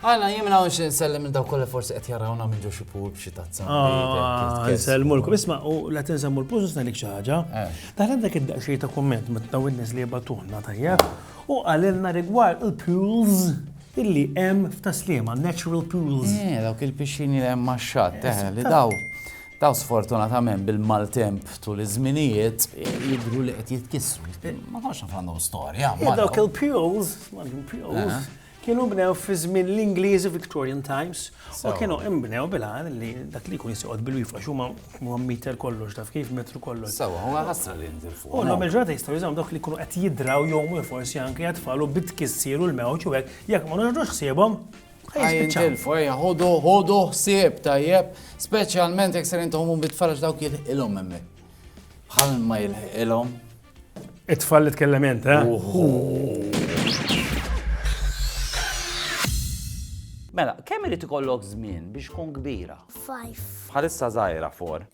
Għana, jien minna għonx nsellem minn daw kolla forsi qed jarawna minn ġoxi pur b'xi tazza. Ah, nsellmu l-kum, isma' u la tinsemmu l-pużus nalik xi ħaġa. Eh. Daħna dak id-daqxej ta' kumment ma tnaw in-nies li jibatuħna tajja u għalilna rigward il-pools illi hemm f'taslima, natural pools. Eh, dawk il-pixxini li hemm max-xatt, eh, li daw daw sfortunatament bil-maltemp tul iż-żminijiet jidru li qed jitkissru. Ma nafx għandhom storja. Dawk il-pools, il-pools, Kienu nbnew fi żmien l-Ingliżi Victorian Times u kienu nbnew bil-għan li dak li jkun jisoqgħod bil-wifqa xuma huma meter kollox taf kif metru kollox. Sawa, huwa ħasra li jinżel fuq. U nagħmel ġurnata jistgħu jużaw dawk li jkunu qed jidraw jew mhux forsi anke jatfalu bit kissiru l-mewġ u hekk jekk ma nagħmlux ħsiebhom. Jinżel fuq ejja ħodu ħodu ħsieb tajjeb, speċjalment jekk ser intom bit-tfaraġ dawk jilħilhom hemmhekk. Bħal ma jilħilhom It-tfal li tkellem int, eh? Mela, kemm irid ikollok żmien biex tkun kbira? Five. Bħalissa żgħira for.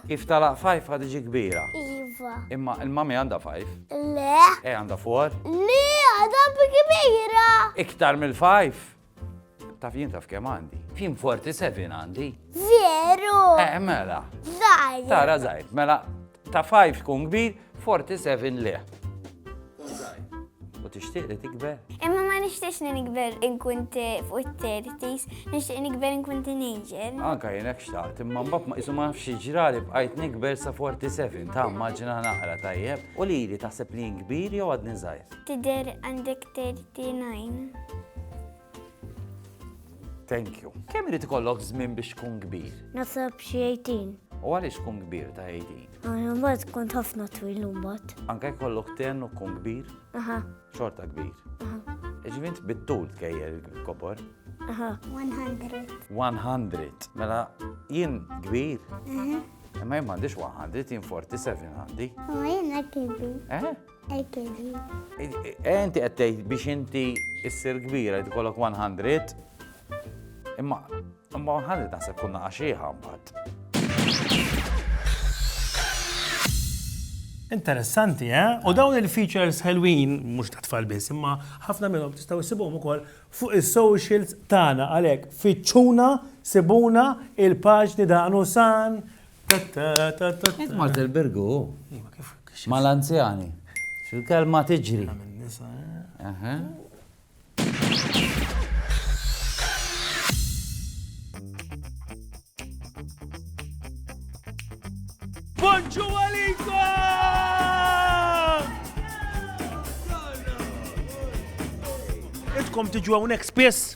Kif talaq five ħad iġi kbira. Iva. Imma il-mami għandha five? Le. E għandha for? Le, għadha kbira. Iktar mill-five? Taf jien taf kemm għandi. Fim 47 għandi. Veru! Eh, mela. Zajr. Tara zajr. Mela, ta' 5 tkun kbir, 47 le. U tixtieq li tikber? Imma ma nixtiex li nikber inkun fuq it-tertis, nixtieq nikber inkun teenager. Anka jenek xtaqt, imma mbagħad ma qisu ma nafx ġrali bqajt nikber sa 47, ta' maġina naqra tajjeb. U li li taħseb li jien kbir jew għadni żgħir? Tidher għandek 30. Tinajn. Thank you. Kemm irid ikollok żmien biex tkun kbir? Nasab xi 18. U għaliex tkun kbir ta' 18? Għana mbagħad kont ħafna twil mbagħad. Anke jkollok ten u tkun kbir? Aha. Xorta kbir. Aha. Iġvint bit-tul tkejjer il-kobor? Aha. 100. 100. Mela jien kbir? Aha. Imma jien m'għandix 100, jien 47 għandi. U jien kbir. Eh? Ekedi. Eh, inti qed tgħid biex inti issir kbira li tkollok 100. Imma imma 100 naħseb kunna għaxieħa mbagħad. Interessanti, eh? U dawn il-features ħelwin, mhux ta' tfal biss, imma ħafna minnhom tistgħu issibhom ukoll fuq is-socials tagħna għalhekk fiċċuna sibuna il-paġni daqnu san Int mort il-birgu. Ma l-anzjani. Xil-kelma tiġri. Bonġu għalikom! Itkom tiġu għonek spiss?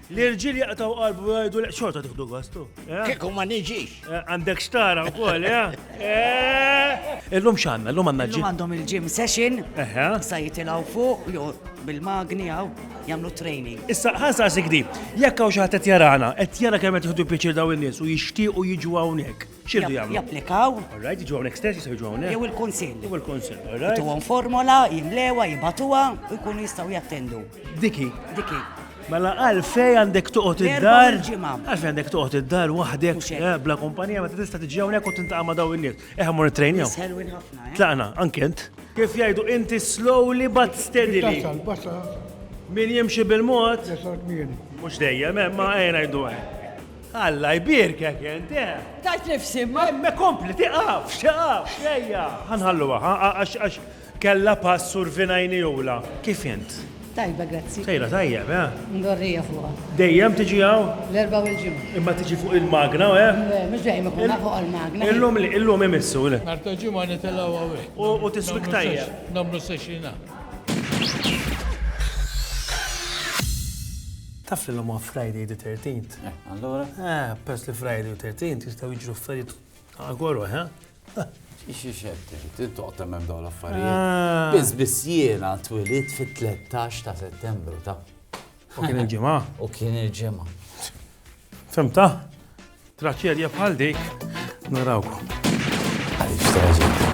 L-irġiel jaqtaw qalbu jgħidu li xorta tiħdu gost. Eh? Kieku ma niġix. Eh, għandek xtara wkoll, eh? Illum x'għandna, illum għandna ġim. Għandhom il-ġim session. Sa jitilgħu fuq jew bil-magni għaw jagħmlu training. Issa ħansa sigdi, jekk hawn xi ħadd qed jarana, qed jara kemm qed jieħdu pjaċir daw in-nies u jixtiequ jiġu hawnhekk. X'irdu jagħmlu? Japplikaw. All right, jiġu hawnhekk stess, jistgħu jiġu hawnhekk. Jew il-kunsill. Jew il-kunsill, all right. Tuhom formola, jimlewha, jibatuha u jkunu jistgħu jattendu. Diki. Diki. Mela għalfej għandek toqgħod id-dar. Għalfej għandek toqgħod id-dar waħdek eh, bla kumpanija meta tista' tiġi hawnhekk u tintaqa' ma' daw in-nies. Eħ mor it-trejnja. Eh? Tlaqna, ankent. Kif jgħidu inti slowly but steadily. Min jimxi bil-mod. Mhux dejjem, eh, ma għajna jdu Alla jbierkek int, eh! Tajt nifsi, ma. Me kompli, tiqafx, tiqafx, ejja. Ħanħalluha, għax għax kella pass survina jnijula. Kif int? Tajba, grazzi. Sejra tajjeb, eh? Ndorrija fuqha. Dejjem tiġi hawn? L-erba' u l-ġimgħa. Imma tiġi fuq il-magna, eh? Le, mhux dejjem ikun fuq il-magna. Illum li, illum imissu, le. Nhar ta' ġimgħa nitilgħu hawnhekk. U tiswik tajjeb. Nagħmlu sexina. Taf li llum huwa Friday the 13th? Eh, allura? Eh, pers li Friday u 13th jistgħu jiġru affarijiet għagħoru, eh? Ixi xetti, tintoq temmem daw l-affarijiet. Ah. Biz biz jiena twilit fit-13 ta' settembru ta' U kien il-ġimgħa. U kien il-ġimgħa. Femta? Traċċerja bħal dik narawkom. Għaliex traġedja.